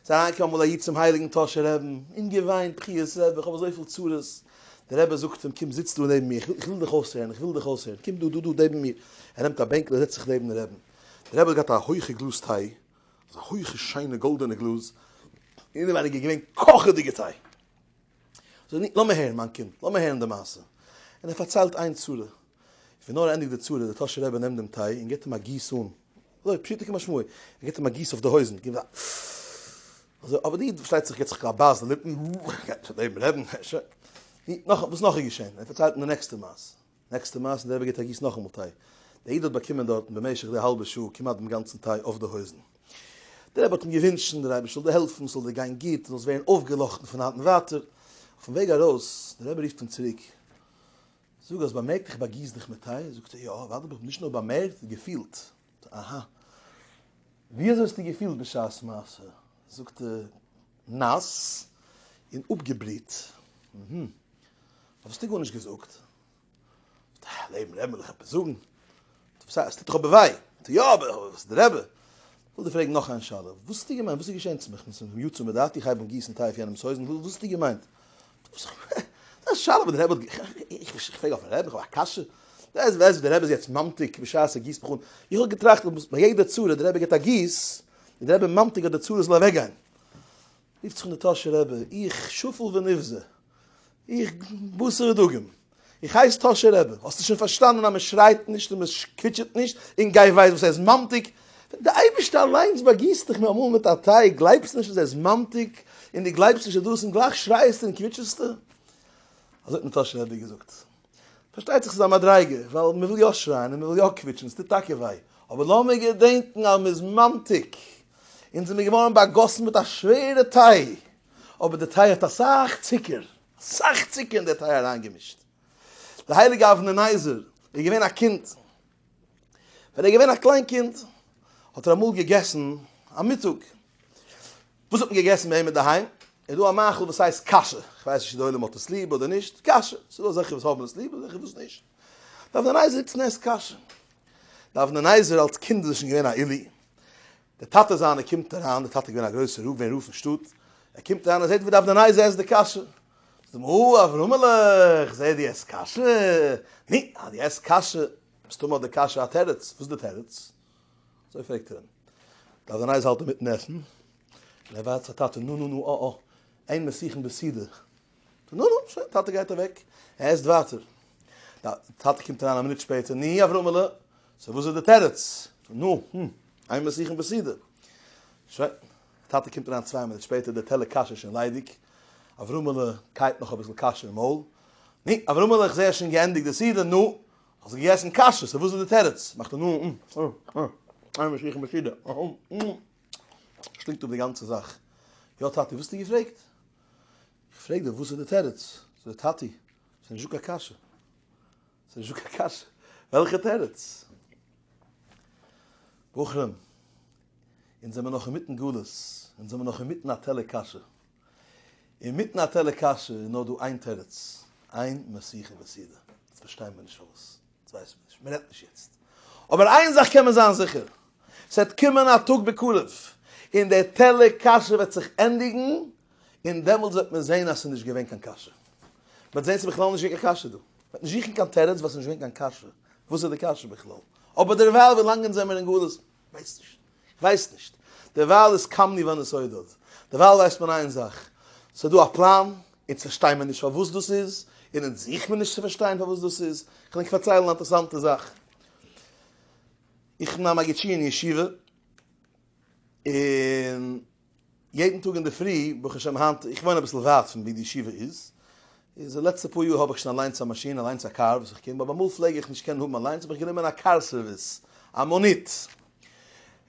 ס'איז אריינגעקומען אמאל א איד צום הייליגן טאהשער רעבן און געוויינט, בכיות רעב, איך האב אזויפיל צרות. דער רבי זאגט אים, קום זיץ דא נעבן מיר, איך וויל דיך אויסהערן, איך וויל דיך אויסהערן, קום דא, דא, דא נעבן מיר. ער נעמט א בענקל און זעצט זיך נעבן רעבן. דער רבי האט געהאט א הויכע גלאז טיי, אזא הויכע שיינע גאלדענע גלאז, און אינעווייניג איז געווען קאכעדיגע טיי. לאמיר הערן מיין קינד, לאמיר הערן די מעשה. און ער פארציילט איין צרה. ווי נאר ער ענדיגט די צרה, דער טאהשער רבי נעמט דעם טיי און גיבט אים א גיס אן. אזוי, פשוטו כמשמעו. ער גיבט אים א גיס אויף די הויזן. גיבט א. אזוי, אבער די איד פארשטייט זיך גיבט זיך א בייס אין די ליפן. ער קען נישט אט דעם רעדן. נאך, וואס נאך איז געשען? ער פארציילט אים די נעקסטע מעשה. נעקסטע מעשה, דער רבי געבט א גיס נאכאמאל טיי. דער איד האט באקומען דארטן במשך די האלבע שעה כמעט דעם גאנצן טיי אויף די הויזן. דער רבי האט אים געווינטשן דער אייבערשטער זאל דיר העלפן, ס'זאל דיר גיין גוט, דו זאלסט ווערן אויפגעלאכטן פון היינט און ווייטער. אויפן וועג ארויס, דער רבי רופט אים צוריק, זאג, האסט באמערקט איך באגיס דיך מיט טיי? זאגט ער, יא, אדרבה, איך האב נישט נאר באמערקט, געפילט. אהא. ווי אזוי האסטו געפילט בשעת מעשה? זאגט ער, נאס און אפגעבריט. אהמ. האסטו גארנישט געזאגט? האט דער לעבן רבי מיר דאך עפעס זאגן. טא וואס הייסט? עס טוט דאך אבער וויי. טא יא, אבער איך בין דער רבי. כ'וועל דיר פרעגן נאך איין שאלה. וואס האסטו געמיינט? וואס איז געשען צו מיך? כ'בין צום יצא מדעתי? איך הייב אן גיסן טיי אויף יענעמ'ס הויזן? וואס האסטו געמיינט? טא וואס איך מיין? ס'איז א שאלה וואס דער רבי האט גע. איך פרעג אויפ'ן רעבן? איך האב א קשיא? ווער איז דער רבי? דער רבי איז יעצט ממתיק בשעת ער גיסט מיך אן. איך האב געטראכט אז ביי יעדע צרה דער רבי געט א גיס, די רבי מאנט איך אז די צרות זאל אוועק גיין, רופט זיך אן די טאהשע רבי, איך שפל ונבזה, איך בשר ודגים, איך הייס טאהשע רבי, האסטו שוין פארשטאנען אז מען שרייט נישט און מען קוויטשעט נישט, און גיי ווייס וואס ער איז מאנט איך, ווען די אייבערשטער אליינס באגיסט דיך נארמאל מיט א טיי, גלייבסט נישט אז ער איז מאנט איך, און די גלייבסט נישט אז דאס און גלייך שרייעסטו און קוויטשעסטו, אזוי האט מיר טאהשע רבי געזאגט. פארשטייט זיך ס'איז א מדריגה, ווייל מ'וויל יא שרייען און מ'וויל יא קוויטשן, ס'טוט טאקע וויי, אבער לאמיר געדענקן אז מ'איז ממתיק, אונז זעמיר געווארן באגאסן מיט א שווערע טיי, אבער די טיי האט אסאך צוקער, אסאך צוקער אין די טיי אריינגעמישט. דער הייליגער אבני נזר איז געווען א קינד, ווען ער איז געווען א קליין קינד האט ער אמאל געגעסן א מיטאג, וואס האט מען געגעסן ביי אים אינדערהיים? איז דא א מאכל וואס הייסט קאשע? איך ווייס נישט צו די עולם האט עס ליב אדער נישט, קאשע. ס'איז דא אזעלכע וואס האבן עס ליב אזעלכע וואס נישט. דארף די נייעס זיצן עסט קאשע. דארף די נייעס ווען אלס קינד איז ער שוין געווען א עולי. די טאטע זיינע קומט אריין, די טאטע איז געווען א גרויסע רב ווען רב אין שטאט. ער קומט אריין ער זעט ווי דארף די נייעס עסט די קאשע. זאגט אים אה אברהמעלע איך זעה די עסט קאשע. ני אז די עסט קאשע. מסתמא האט די קאשע א תירוץ. וואס איז די תירוץ? אזוי פרעגט ער אים. דארף זיין אייז האלט ער מיטן עסן, און ער ווארט זיך טאטע נו נו נו אה אה איין מסכים בסדר, נו נו שוין טאטע גייט אוועק, ער עסט ווייטער, טאטע קומט אריין א מינוט שפעטער ני אברהמעלע סא וואס איז די תירוץ, נו נו איין מסכים בסדר, שוין טאטע קומט אריין צוויי מינוט שפעטער די טעלער קאש איז שוין ליידיג, אברהמעלע קייט נאך אביסל קאש אין מויל, ני אברהמעלע איך זע ער האט שוין געענדיגט די סדר, נו האט זיך געגעסן קאשע, סא וואס איז די תירוץ? מאכט ער נו נו נו נו איין משיח משידע אהא נו שלינגט אפ די גאנצע זאך. יא טאטי וואס האסטו געפרעגט? איך פרעג דיר וואס איז די תירוץ? זאגט ער טאטי ס'איז נישטא קיין קאשע ס'איז נישטא קיין קאשע וועלכע תירוץ? בחורים אונז זעמער נאך אינמיטן גלות אונז זעמער נאך אינמיטן א טעלער קאשע. אינמיטן א טעלער קאשע איז נאר דא איין תירוץ, איין משיחה וסידור. יעצט פארשטיי מיר נישט פארוואס. יעצט ווייס מיר נישט. מען רעדט נישט יעצט. אבער איין זאך קען מען זיין זיכער, ס'וועט קומען א טאג בקרוב, און דער טעלער קאשע וועט זיך ענדיגן, און דעמאלטס וועט מען זען אז ס'איז נישט געווען קיין קאשע. מ'וועט זען ס'איז בכלל נישט געווען קיין קאשע דא. מ'וועט נישט זוכן קיין תירוץ ווייל ס'איז נישט געווען קיין קאשע. וואס איז די קאשע בכלל? אבער דערווייל ווילאנג אונז זעמיר אין גלות, ווייס נישט. כ'ווייס נישט. דערווייל איז קאמני ווען עס אוידערט. דערווייל ווייסט מען איין זאך. ס'איז דא א פלאן. אונז פארשטיי מיר נישט פארוואס דאס איז. און אונז זוך מיר נישט צו פארשטיין פארוואס דאס איז. כ'על ענק פארציילן א אינטערסאנטע זאך. איך בין א מגיד שיעור אין ישיבה. און. יעדן טאג אינדערפרי, ברוך השם היינט, איך וואוין אביסל ווייט פון ווי די ישיבה איז, איז די לעצטע פאר יאר האב איך שוין אליינס א מאשין, אליינס א קאר וואס איך קום, אבער אמאל פלעג איך נישט קענען האבן אליינס האב איך גענומען א קאר סערוויס, א מאניט,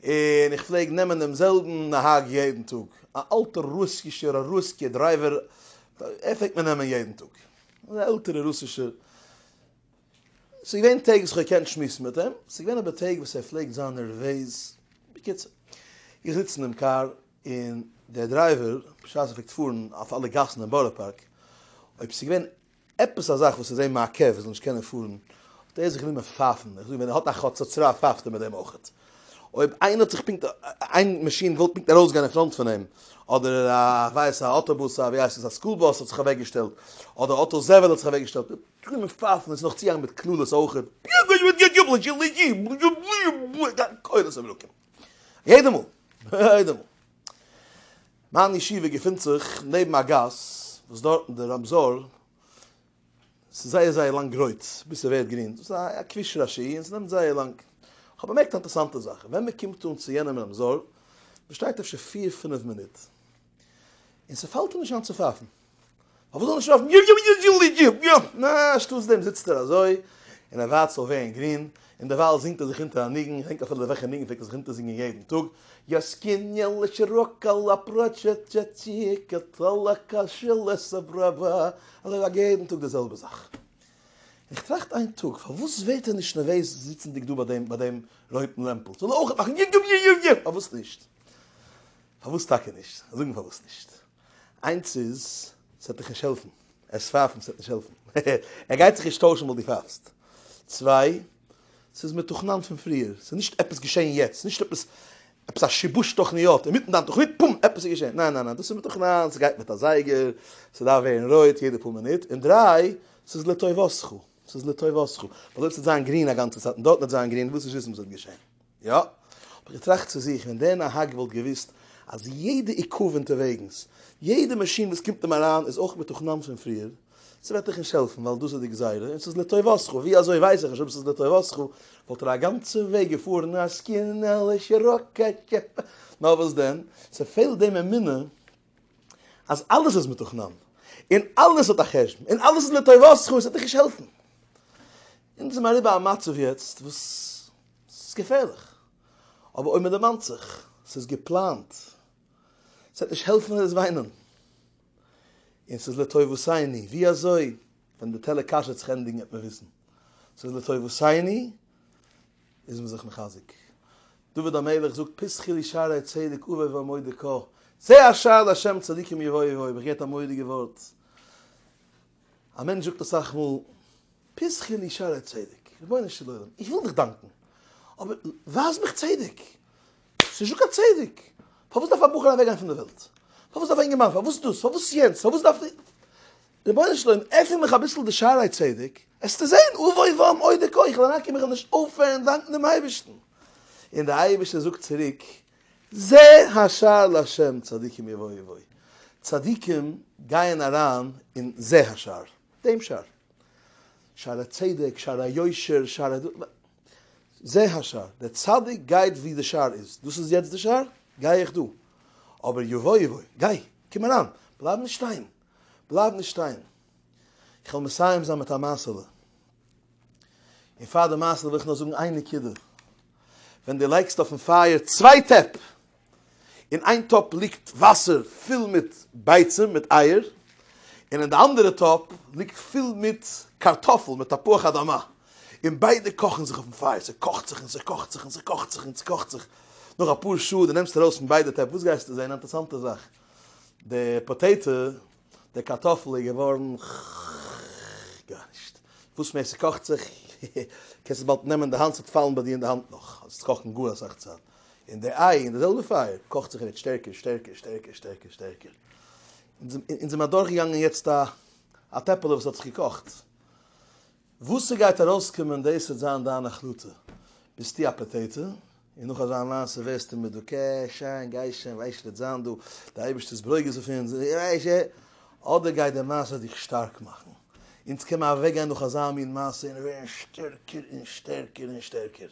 און איך פלעג נעמען דעם זעלבן נהג יעדן טאג, א אלטער רוסישער א רוסקיע דרייווער, ער פלעגט מיר נעמען יעדן טאג, אזא עלטערע רוסישער, ס'איז געווען טעג וואס כ'האב געקענט שמועסן מיט אים, ס'איז געווען אבער טעג וואס ער פלעגט זיין נערוועז. בקיצור, איך זיץ אינעם קאר, און דער דרייווער, בשעת ער פלעגט פארן אויף אלע גאסן אין בארא פארק, אויב ס'איז געווען עפעס א זאך וואס איז אים מעכב ער זאל נישט קענען פארן, האט ער זיך גענומען פייפן. איך זאג, ווען ער האט א חצוצרה פייפט ער מיט דעם אויך. אויב איינער האט זיך פונקט, איין מאשין וואלט פונקט ארויסגעגאנגען אין פראנט פון אים, אדער א ווייסע אויטאבוס, א ווי הייסט עס, א סקול באס האט זיך אוועקגעשטעלט, אדער אויטא זבל האט זיך אוועקגעשטעלט, קרומע פייפן און ס'נאך צוהאנגען מיט קללות אויכעט, פיעזשער וואס גייט יאפלען של ש בלעז א קולות אויף אלוקים יעדע מאל יעדע מאל. מיין ישיבה געפינט זיך נעבן א גאס וואס דארטן די רמזור איז זייער זייער לאנג רויט ביז ס'ווערט גרין, דאס איז א כביש ראשי און ס'נעמט זייער לאנג, כ'האב באמערקט א אינטערעסאנטע זאך, ווען מ'קומט אן צו יענעם רמזור, מ'שטייט אפשר פיר פינף מינוט. און ס'פאלט אים נישט איין צו פייפן. פארוואס זאל ער נישט פייפן? יו יו יו יו יו יו! נע, שטאטס דעם זיצט ער אזוי און ער ווארט ס'זאל ווערן גרין, און דערווייל זינגט ער זיך אונטער א ניגון, כ'דענק אפילו וועלכע ניגון, פלעגט ער זיך אונטערזינגען יעדן טאג, יאסקיניעלע שיראקעלע פראטשעטשעטשיקע טראלא קאשילע סאבראבא, אזוי זאגט ער יעדן טאג די זעלבע זאך. און כ'טראכט איין טאג, פארוואס ווערט ער נישט נערוועז זיצנדיג דא ביי דעם ביי דעם רויטן לעמפל? זאל ער אויך מאכן יו יו יו יו יו! פארוואס נישט? פארוואס טאקע נישט? זאג מיר פארוואס נישט? איינס איז, ס'וועט דיך נישט העלפן. ער איז פייפן, ס'וועט נישט העלפן. ער גייט זיך נישט טוישן ווייל דו פייפסט. צוויי, ס'איז מתוכנן פון פריער. ס'איז נישט עפעס געשען יעצט. ס'איז נישט עפעס עפעס א שיבוש תוכניות. אינמיטן דיין תוכנית, פום! עפעס איז געשען. ניין ניין ניין. דאס איז מתוכנן. ס'גייט מיט א זייגער. ס'דארף ווערן רויט יעדע פאר מינוט. און דריי, ס'איז לטובתך. ס'איז לטובתך. ווייל אויב ס'וועט זיין גרין א גאנצע צייט און דארטן וועט זיין גרין, ווילסט נישט וויסן וואס וועט געשען. יא, האב איך געטראכט צו זיך, ווען דער נהג וואלט געוואוסט אז יעדע עיכוב אונטערוועגנס, יעדע מאשין וואס קומט אים אריין איז אויך מתוכנן פון פריער, ס'וועט דיך נישט העלפן ווייל דאס איז די גזירה און ס'איז לטובתך, ווי אזוי ווייס איך נישט אויב ס'איז לטובתך, וואלט ער א גאנצע וועג געפארן א זקנה'לישע ראקעט, נאר וואס דען, ס'פעלט דעם אמונה אז אלעס איז מתוכנן, און אלעס האט א חשבון, און אלעס איז לטובתך און ס'וועט דיך נישט העלפן. אונז זעמער אריבער א מצב יעצט וואס. ס'איז געפערליך, אבער אויב מ'דערמאנט זיך, ס'איז געפלאנט, ס'וועט נישט העלפן ווער עס וויינען, און ס'איז לטובותיני, ווי אזוי ווען די טעלער קאש וועט זיך ענדיגן וועט מען וויסן, ס'איז לטובותיני, איז מען זיך מחזק. דוד המלך זאגט פסחי לי שערי צדק אבוא ואמודה כה, צא אשאל לה' צדיקים יבואו יבואו, איך געהערט א מורא'דיגע ווארט, א מענטש זאגט אסאך מאל, פסחי לי שערי צדק, רבונו של עולם, איך וויל דיך דאנקן, אבער ווייז מיך צדק, ס'איז נישטא קיין צדק, פארוואס דארף א בחור אוועקגיין פון די וועלט? פארוואס דארף א אינגערמאן, פארוואס דאס, פארוואס יענץ, פארוואס דארף איך, רבונו של עולם, עפן מיך אביסל די שערי צדק, העסטו זען, אבוי ואום אודה כה, איך וועל אריינקומען איך וועל נישט אויפהערן דאנקן דעם אייבערשטן, און דער אייבערשטער זאגט צוריק, זה השער לשם צדיקים אוי ואבוי וואוי, צדיקים גייען אריין אין זה השער, דעם שער, שער הצדק, שער היושר, שער ה. זה השער, דער צדיק גייט ווי די שער איז, דאס איז יעצט די שער, גיי איך דא, אבער אוי ואבוי וואוי, גיי, קום אריין, בלייב נישט שטיין, בלייב נישט שטיין. איך וועל מסיים זיין מיט א מעשה'לע, און פאר די מעשה'לע וויל איך נאר זאגן איין נקודה, ווען דו לייגסט אויפן פייער צוויי טעפ, אין איין טאפ ליגט וואסער פול מיט ביצים מיט אייער, און אין די אנדערע טאפ ליגט פול מיט קארטאפל מיט תפוח אדמה, און ביידע קאכן זיך אויפן פייער, ס'קאכט זיך און ס'קאכט זיך און ס'קאכט זיך און ס'קאכט זיך, נאך אפאר שעה דו נעמסט ארויס פון ביידע טעפ, וואס גייסטו זען? אינטערסאנטע זאך, די פאטעיטא די קארטאפל איז געווארן ח. גארנישט. וואס מער ס'קאכט זיך קען עס באלד נעמען אין די האנט ס'וועט פאלן ביי דיר אין די האנט נאך אז עס קאכן גאר אסאך צייט. און די איי אין די זעלבע פייער קאכט זיך יעצט שטערקער שטערקער שטערקער שטערקער שטערקער. אונז זעמער אדורכגעגאנגען יעצט א טעפעלע וואס האט זיך געקאכט. וואס ס'גייט ארויסקומען דאס וועט זיין דיין החלטה, ביסטו א פאטעיטע? און נאך אזא מעשה ווערסטו מדוכא, שיין גיי שיין ווייסט וועט זיין דא די אייבערשטער'ס ברוגז אויף אונז, אדער גייט די מעשה דיך שטארק מאכן, אונז קען מען אוועקגיין נאך אזא מין מעשה און ווערן שטערקער און שטערקער און שטערקער.